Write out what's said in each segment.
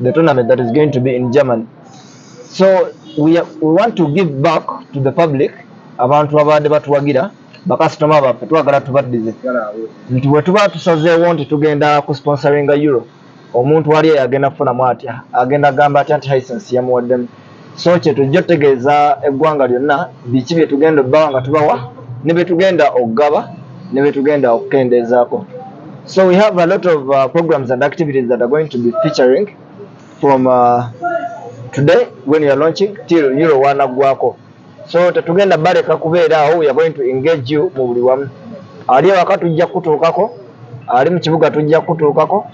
the tournament that is going to be in Germany. So we, are, we want to give back to the public abantu abade batuwagira bakasitoma baffe twagala tubaddize nti bwe tuba tusazeewo nti tugenda ku sponsoringa euro omuntu wali agenda kufunamu atya agenda agamba atya nti hisense yamuwaddemu so kyetujja otegeeza eggwanga lyonna biki byetugenda obbawa nga tubawa ne byetugenda okugaba ne byetugenda okukendeezaako so we have a lot of uh, programs and activities that are going to be featuring from uh, today when youare launching till euro wanaggwako so tetugenda baleka kubeera awo weare going to engage you mu buli wamu ali ewaka tujja kutuukako ali mu kibuga tujja kutuukako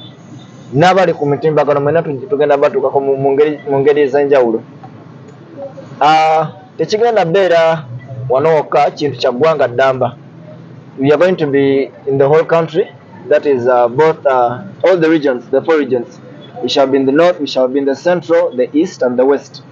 n'abali ku mitimbagano mwena tugenda batuukako mu ngeri ez'enjawulo ah, tekigenda beera wano wokka kintu kya ggwanga ddamba we are going to be in the whole country that is uh, both uh, all the regions the four regions we shall be in the north we shall be in the central the east and the west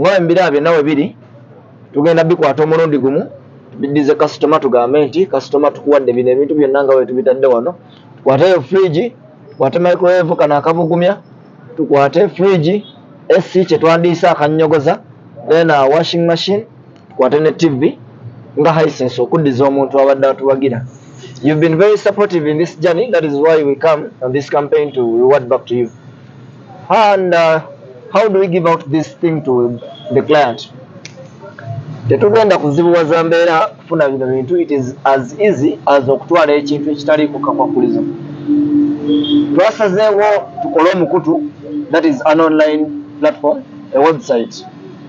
nga embira byonna we biri tugenda bikwata omulundi gumu biddize kasitoma tugambe nti kasitoma tukuwadde bino ebintu byonna nga wetubitadde wano tukwateyo fridge tukwate microwave kano akabugumya tukwate fridge esi kyetwandiisa akanyogoza then uh, washing machine tukwate ne tv nga hisense okuddiza omuntu abadde atuwagira you've been very supportive in this journey that is why we come on this campaign to reward back to you and uh, how do we give out this thing to the client tetugenda kuzibuwaza mbeera kufuna bino bintu it is as easy as okutwala ekintu ekitali kukakwakuliza twasazeewo tukole omukutu that is an online platform a website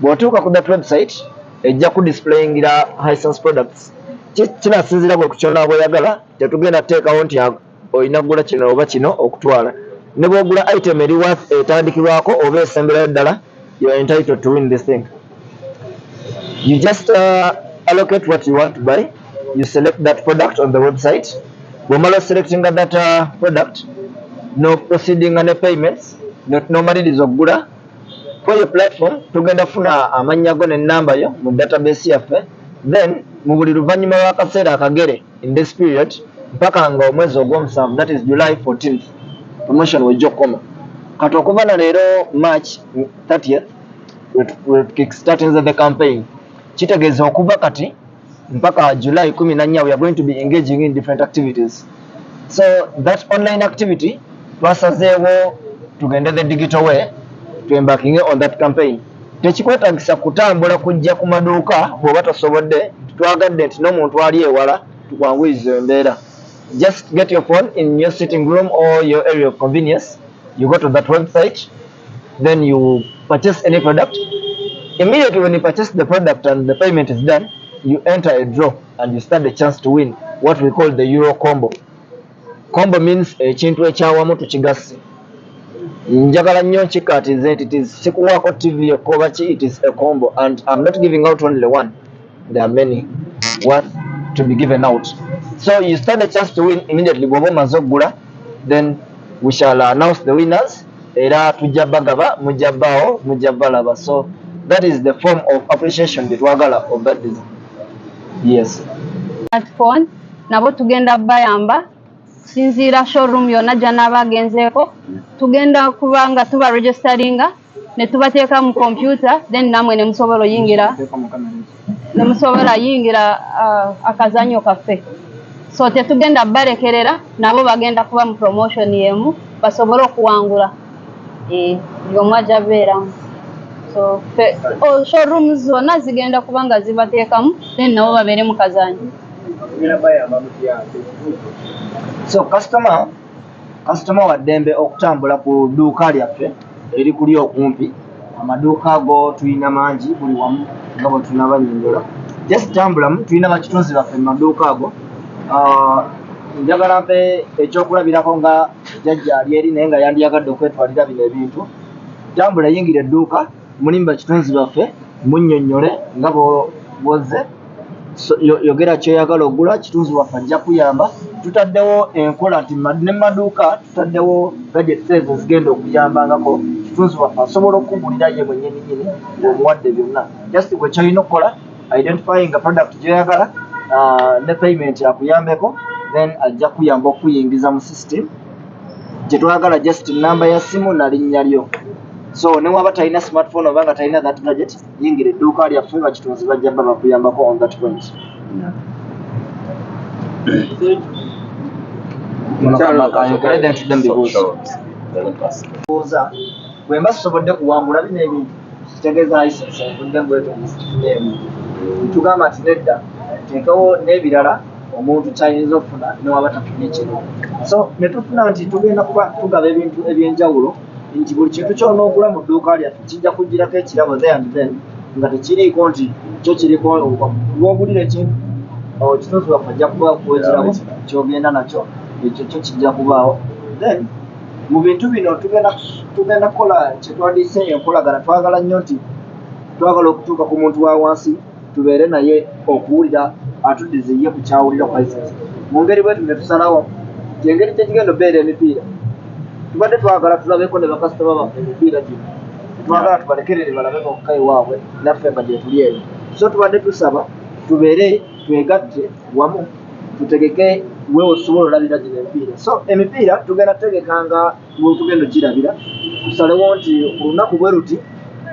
Bw'otuuka ku that website ejja ku displayingira Hisense products kinasinziira gwe ku ky'onaaba oyagala, tetugenda kuteekawo nti olina kugula kino oba kino okutwala. Ne bw'ogula item eri worth etandikirwako oba esemberayo ddala you're entitled to win this thing. You just uh, allocate what you want to buy, you select that product on the website. Bw'omala oselectinga that uh, product n'okuproceedinga ne payments n'omaliriza okugula kweyo platform tugenda funa amannya go ne namba yo mu database yaffe then mu buli luvannyuma lw'akaseera akagere in this period mpaka nga omwezi ogw'omusanvu that is july 14 promotion wejja okukoma kati okuva na leero march 30 wetukickstatinze the campaign kitegeeza okuva kati mpaka july kumi na nnya we are going to be engaging in different activities so that online activity twasazeewo tugende the digital way twembakinge on that campaign tekikwetagisa kutambula kujja ku maduuka bweoba tosobodde twagadde nti n'omuntu ali ewala tukwanguyiza embeera just get your phone in your sitting room or your area of convenience you go to that website then you purchase any product immediately when you purchase the product and the payment is done you enter a draw and you stand a chance to win what we call the euro combo combo means ekintu ekyawamu tukigasse njagala nnyo nkikatize nti kikuwaako tv ekobaki it is a combo and im not giving out only one there are many worth to be given out so you stand a chance to win immediately bwoba omaze okugula then we shall announce the winners era tujja bagaba mujja baawo mujja balaba so that is the form of appreciation gyetwagala obadiza yes smartphone nabo tugenda bayamba kusinziira showroom yonna gyanaaba agenzeeko tugenda kubanga tuba registeringa netubateeka mu kompyuta then namwe nemusobola oyingira nemusobola yingira uh, akazanyo kaffe so tetugenda balekerera nabo bagenda kuba mu promotion yemu basobole okuwangula eh, yomu aja beeramu so oh, showroom zona zigenda kuba nga zibateekamu then nabo babeere mu kazanyo so customer Kasitoma wa ddembe okutambula ku dduuka lyaffe erikuli okumpi. Amaduuka go tulina mangi buli wamu nga bwe tunabanyonyola. Just tambulamu, tulina bakitunzi baffe mu maduuka ago. Ah, njagala mpe ekyokulabirako nga jajja ali eri naye nga yandiyagadde okwetwalira bino ebintu. Tambula yingira edduuka. mulimu bakitunzi baffe munyonyole nga bwozze yogera kyoyagala ogula kitunzi waffe ajja kuyamba tutaddewo enkola nti ne maduuka tutaddewo gadgets ezo ezigenda okuyambangako kitunzi waffe asobola okukugulira ye mwenyininyini omuwadde byonna just wekyalina okukola identifying product gyoyagala uh, ne payment akuyambeko then ajja kuyamba okuyingiza mu system kyetwagala just namba ya simu nalinnya lyo so newaba talina smartphone oba nga talina that gadget yingira edduuka lyaffe bakitunzi bajja ba bakuyambako on that point bwemba sisobodde kuwangula bino ebintu kitegeeza isense nvudde mbwetonda situneemu ntugamba nti nedda ntekewo n'ebirala omuntu kyayinza okufuna newaba tafunye kino so netufuna nti tugenda kuba tugaba ebintu ebyenjawulo nti buli kintu kyona ogula mu dduuka lyaffe kijja kugirako ekirabo the and then nga tekiriiko nti kyo kiriko wogulira ekintu okitunzi waffe ajja kuba kuwa ekirabo kyogenda nakyo ekyo kyo kijja kubaawo then mu bintu bino tugenda kukola kyetwadiise enkolagana twagala nnyo nti twagala okutuuka ku muntu wa wansi tubeere naye okuwulira atuddize ye ku kyawulira ku license mu ngeri bwetu ne tusalawo kyengeri kyekigenda obeera emipiira tubadde twagala tulabeko ne bakasitoma baffe emipiira gino twagala tubalekerere balabe bokka ewaabwe naffe nga gyetuli eno so tubadde tusaba tubeere twegatte wamu tutegeke wewe osobola olabira gino emipiira so emipiira tugenda tutegekanga tugenda okirabira tusalewo nti olunaku bwe luti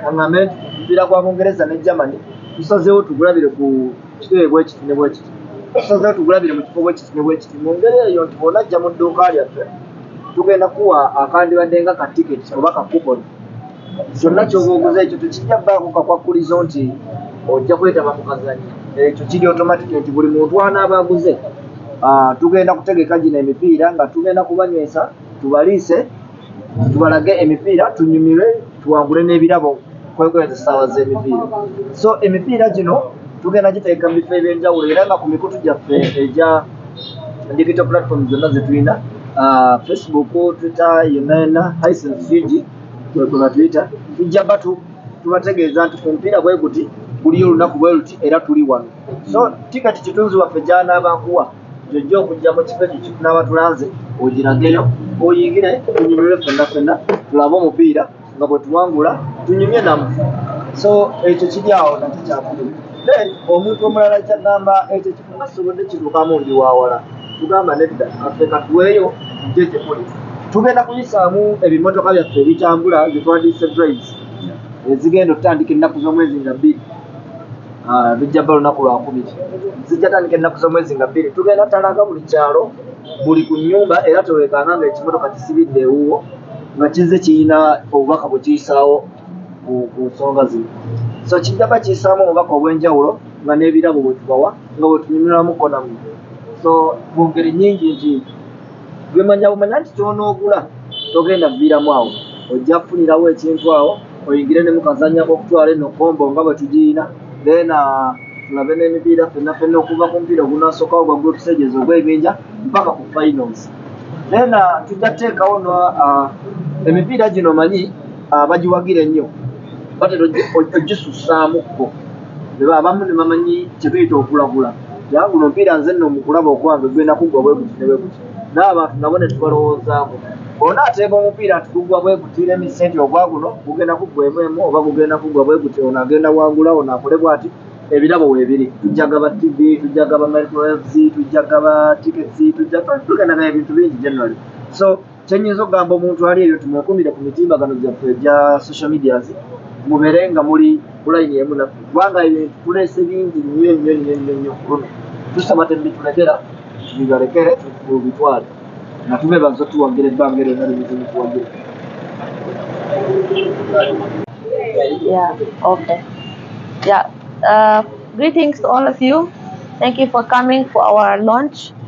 aŋambe nti kupiira kwa bungereza ne germany tusazeewo tugulabire ku kiteebe bwekiti ne bwekiti tusazeewo tugulabire mu kifo bwekiti ne bwekiti mu ngeri eyo nti bwona ajja mu dduuka lyaffe tugenda kuwa akandibadde nga ka tiketi oba ka kupon kyonna kyoba oguze ekyo tekijja baako kakwakkulizo nti ojja kwetaba mu kazanyo ekyo kiri automatic nti buli muntu anaaba aguze ah, tugenda kutegeka gino emipiira nga tugenda kubanywesa tubaliise tubalage emipiira tunyumirwe tuwangule n'ebirabo kwekweza essaawa z'emipiira so emipiira gino tugenda giteeka mu bifo ebyenjawulo era nga ku mikutu gyaffe egya digital platform zonna zetulina ah, facebook twitter yenayena isnsigi kwebatwitter tujja batu tubategeeza nti ku mupiira bweguti buliyo olunaku bweruti era tuli wano so tikati kitunzi waffe gyanabankuwa gyojja okujja mu kifo ekyo kitunaaba tulanze ogirageyo oyingire tunyumire fenna fenna tulabe omupiira nga bwe tuwangula tunyumye namu so ekyo kiri awo nakyo kyakulu then omuntu omulala kyagamba ekyo kifo kasobodde kituukamu ndi wawala tugamba nedda affe katuweeyo tujje gye muli tugenda kuyisaamu ebimotoka byaffe ebitambula zetwandiise drives ezigenda otutandika ennaku z'omwezi nga bbiri ah, lujja bba lunaku lwakubiri zijja tandika ennaku z'omwezi nga bbiri tugenda talaga buli kyalo buli ku nnyumba era tewekanga nga ekimotoka kisibidde ewuwo nga kizze kirina obubaka bwe kiyisaawo ku nsonga zino so kijjaba kiyisaamu obubaka obw'enjawulo nga n'ebirabo bwe tubawa nga bwe tunyumirwamu konamu so mu ngeri nnyingi nti gwemanya bumanya nti kyonoogula togenda viiramu awo ojja kufunirawo ekintu awo oyingire ne mukazanya okutwala eno kombo nga bwe tugiyina then uh, tulabe n'emipiira fenna fenna okuva ku mupiira ogunasooka ogwa group stages ogw'ebinja mpaka ku finals then uh, tujja kuteekawo no uh, emipiira gino manyi bagiwagira ennyo batera ojisussaamu kko abamu ne bamanyi kye tuyita okulagula yabula omupiira nze nno mukulaba okwange gwenda kuggwa bwe guti ne bwe guti n'abantu nabo ne tubalowoozaako ona ateeba omupiira nti guggwa bwe guti n'emisenti ogwa guno gugenda kuggwa emu emu oba gugenda kuggwa bwe guti ono agenda wangula ono akole bwati ebirabo weebiri tujja gaba tv tujja gaba microwaves tujja gaba tickets tujja tugendagana ebintu bingi generally so kyenyinza okugamba omuntu ali eyo tumwekumire ku mitimbagano gyaffe egya social medias mubere nga muli kulayini emu naffe kubanga ebintu tulese bingi nnyo nnyo nnyo nnyo nnyo kuluno tusaba tebitulekera bibalekere tubitwale nga tube bazo tuwagira ebbanga ero nalibizi mutuwagira Yeah, okay. Yeah, uh, greetings to all of you. Thank you for coming for our launch.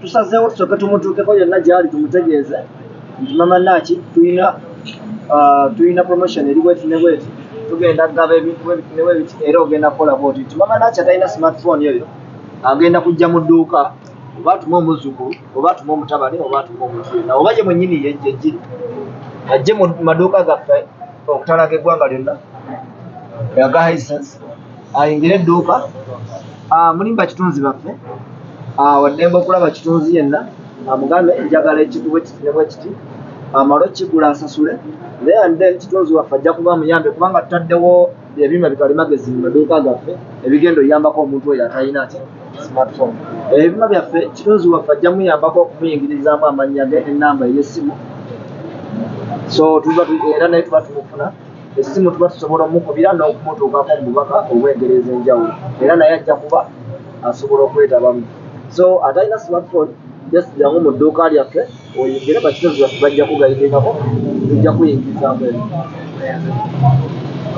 tusazeewo tusooke tumutuukeko yonna gyali tumutegeeze nti mama naaki tulina ah, tulina promotion eri bweti ne bweti tugenda kugaba ebintu ne bwebiti era ogenda kukola bwoti nti mama naaki atalina smartphone eyo agenda kujja mu dduuka oba atuma omuzukulu oba atuma omutabani oba atuma omuntu yonna oba ye mwenyini yejjejiri ajje mu maduuka gaffe okutalaga eggwanga lyonna yaga hisense ayingira edduuka ah, mulimu bakitunzi baffe ah, waddembe okulaba kitunzi yenna amugambe ah, njagala ekikuba ekiti ne bwekiti amale okukigula asasule naye ande kitunzi waffe ajja kuba muyambe kubanga tutaddewo ebyuma bitwali magezi mu maduuka gaffe ebigenda oyambako omuntu oyo atalina ki smartphone ebyuma byaffe kitunzi waffe ajja muyambako okumuyingirizaamu amannya ge enamba ey'essimu so tuba era naye tuba tumufuna Essimu tuba tusobola omukubira n'okumutuukako mu bubaka obw'engeri ez'enjawulo era naye ajja kuba asobola okwetabamu. So atalina smartphone just jangu mu dduuka lyaffe oyingire bakitozi baffe bajja kugayidingako tujja kuyingirizaamu eno.